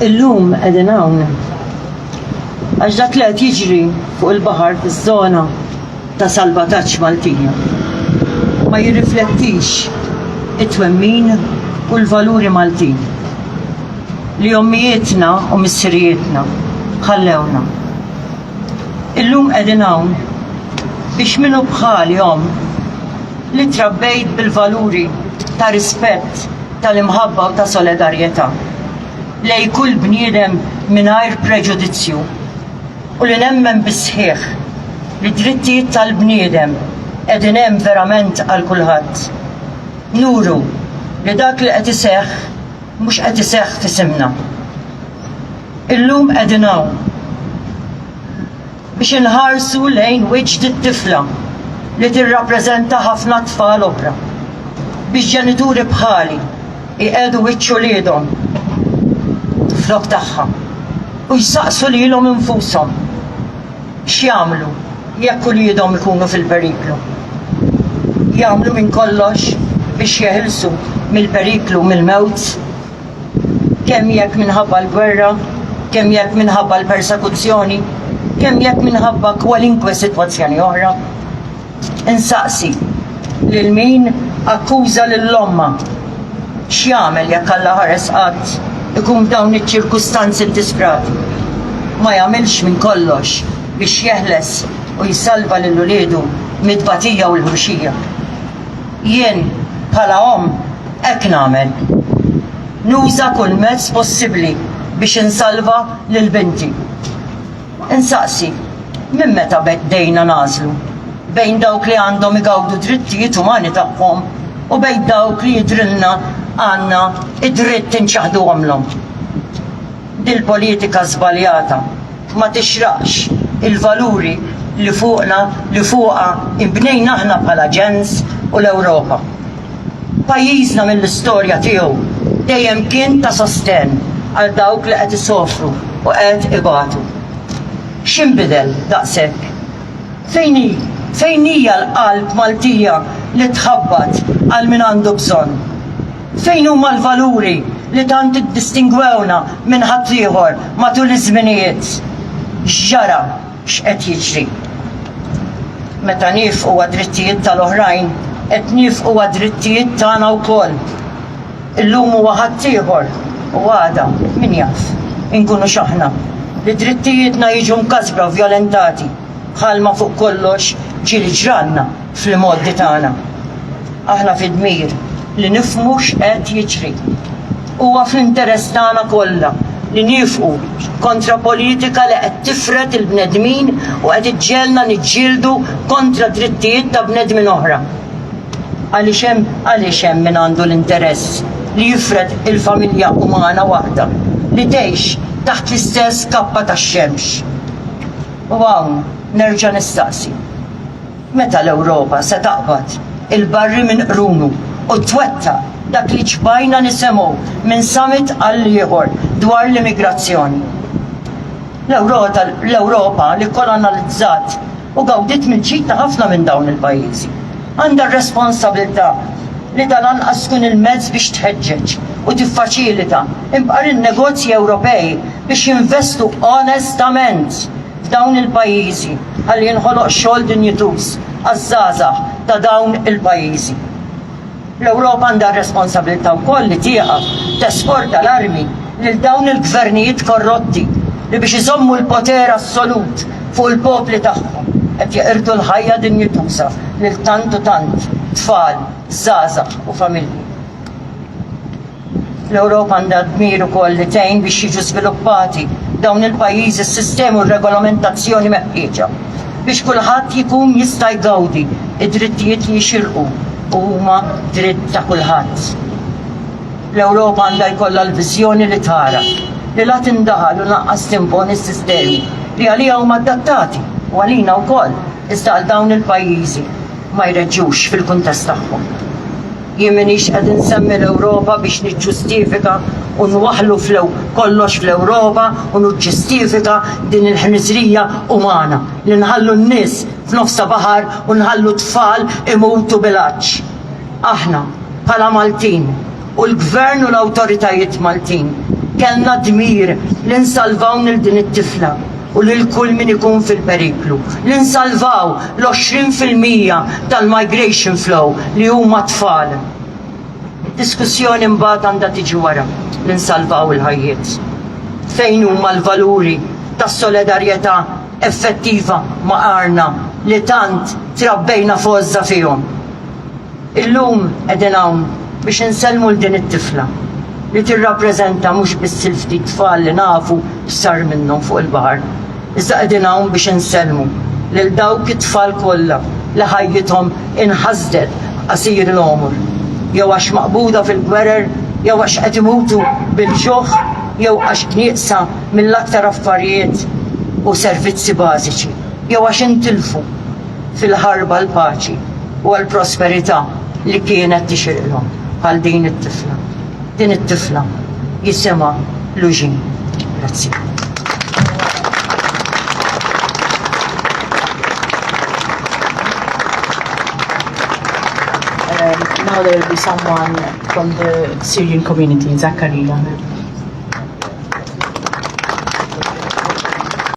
Illum qegħdin hawn. Għax dak li qed jiġri fuq il-baħar fiż-żona ta' salvataġġ Maltija ma jirriflettix it-twemmin u l-valuri Maltin li ommijietna u missirijietna ħallewna. Illum qegħdin hawn biex min hu bħali omm li trabbejt bil-valuri ta' rispett, tal-imħabba u ta' solidarjetà lejn kull bniedem mingħajr preġudizzju u li nemmen bis-sħiħ li d-drittijiet tal-bniedem qegħdin hemm verament għal kulħadd. Nuru li dak li qed iseħħ mhux qed iseħħ f'isimna. Illum qegħdin hawn biex inħarsu lejn wiċċ dit-tifla li tirrappreżenta ħafna tfal oħra, biex ġenituri bħali jqiegħdu wiċċ uliedhom flok tagħha u jsaqsu lilhom infushom x'jagħmlu jekk uliedhom ikunu fil-periklu. Jagħmlu minn kollox biex jeħilsu mill-periklu mill-mewt kemm jekk minħabba l-gwerra, kemm jekk minħabba l-persekuzzjoni, kemm jekk minħabba kwalinkwe sitwazzjoni oħra. Insaqsi lil min akkuża lill-ommha x'jagħmel jekk Alla ħares qatt ikun f'dawn iċ-ċirkustanzi ddisprat. Ma jagħmilx minn kollox biex jeħles u jsalva lil uliedu mit-tbatija u l-ħruxija. Jien, bħala omm, hekk nagħmel. Nuża kull mezz possibbli biex insalva lil binti. Insaqsi, minn meta bdejna nagħżlu bejn dawk li għandhom igawdu d-drittijiet umani tagħhom u bejn dawk li jidhrilna għandna d-dritt inċaħħduhomlhom? Dil-politika żbaljata ma tixraqx il-valuri li fuqna, li fuqha nbnejna aħna bħala ġens u l-Ewropa. Pajjiżna mill-istorja tiegħu dejjem kien ta' sostenn għal dawk li qed isofru u qed ibatu. X'inbidel daqshekk? Fejn hi, fejn hija l-qalb Maltija li tħabbat għal min għandu bżonn? Fejn huma l-valuri li tant iddistingwewna minn ħaddieħor matul iż-żminijiet? X'ġara? X'qed jiġri? Meta niefqu għad-drittijiet tal-oħrajn, qed niefqu għad-drittijiet tagħna wkoll. Illum huwa ħaddieħor u għada, min jaf, inkunu x'aħna, li drittijietna jiġu mkasbra u vjolentati, bħalma fuq kollox ġieli ġralna. fl-imgħoddi tagħna. Aħna fid-dmir li nifhmu x'qed jiġri. Huwa fl-interess tagħna kollha li niefqu kontra politika li qed tifred il-bnedmin u qed iġġelna niġġieldu kontra drittijiet ta' bnedmin oħra. Għaliex hemm għaliex hemm min għandu l-interess li jifred il-familja umana waħda li tgħix taħt l-istess kappa tax-xemx. U hawn nerġa' nistaqsi. Meta l-Ewropa se taqbad il-barri minn qrunu u twettaq dak li ċbajna nisemgħu minn summit għall-ieħor dwar l-immigrazzjoni? L-Ewropa li kkolonalizzat u gawdiet mill-ġid ta' ħafna minn dawn il-pajjiżi għandha r-responsabilità li dan anqas tkun il-mezz biex tħeġġeġ u tiffaċilita imqar in-negozji Ewropej biex jinvestu onestament f'dawn il-pajjiżi ħalli jinħoloq xogħol dinjituż għaż-żgħażagħ ta' dawn il-pajjiżi. L-Ewropa għandha r-responsabilità wkoll li tieqaf tesporta l-armi lil dawn il-gvernijiet korrotti li biex iżommu l-poter assolut fuq il-popli tagħhom qed jeqirdu l-ħajja dinjituża lil tant u tant tfal, żgħażagħ u familji. L-Ewropa għandha d-dmir ukoll li tgħin biex jiġu żviluppati f'dawn il-pajjiżi s-sistemi u r-regolamentazzjoni meħtieġa biex kulħadd jkun jista' jgawdi d-drittijiet li jixirqu u huma dritt ta' kulħadd. L-Ewropa għandha jkollha l-viżjoni li tara li la tindaħal u lanqas timponi s-sistemi li għaliha huma adattati, u għalina wkoll, iżda għal dawn il-pajjiżi ma jreġġux fil-kuntest tagħhom. Jien m'iniex qed insemmi l-Ewropa biex niġġustifika u nwaħħlu fl-ew kollox fl-Ewropa u nuġġistifika din il-ħniżrija umana li nħallu n-nies f'nofsa baħar u nħallu t-tfal imutu bil-għatx. Aħna, bħala Maltin, u l-Gvern u l-awtoritajiet Maltin, kellna d-dmir li nsalvaw nil din it-tifla. u lil kull min ikun fil-periklu, li nsalvaw l-20 fil-mija tal-migration flow li huma t-tfal. Id-diskussjoni mbagħad għandha tiġi wara li nsalvaw il-ħajjiet. Fejn huma l-valuri tas-soledarjetà effettiva ma' għarna li tant trabbejna f'għożża fihom? Illum qegħdin hawn biex insellmu 'l din it-tifla li tirrappreżenta mhux biss il-ftit tfal li nafu x'sar minnhom fuq il-baħar, iżda qegħdin hawn biex insellmu lil dawk it-tfal kollha li ħajjithom inħasdet b'qasir il-għomor, jew għax maqbuda fil-gwerer, jew għax qed imutu bil-ġuħ, jew għax nieqsa mill-aktar affarijiet u servizzi bażiċi, jew għax intilfu. fil-ħarba għall-paċi u għall-prosperità li kienet tixirqlhom bħal din it-tifla. Din it-tifla jisimha Luġin. Grazzi. now there will be someone from the Syrian community, Zakaria.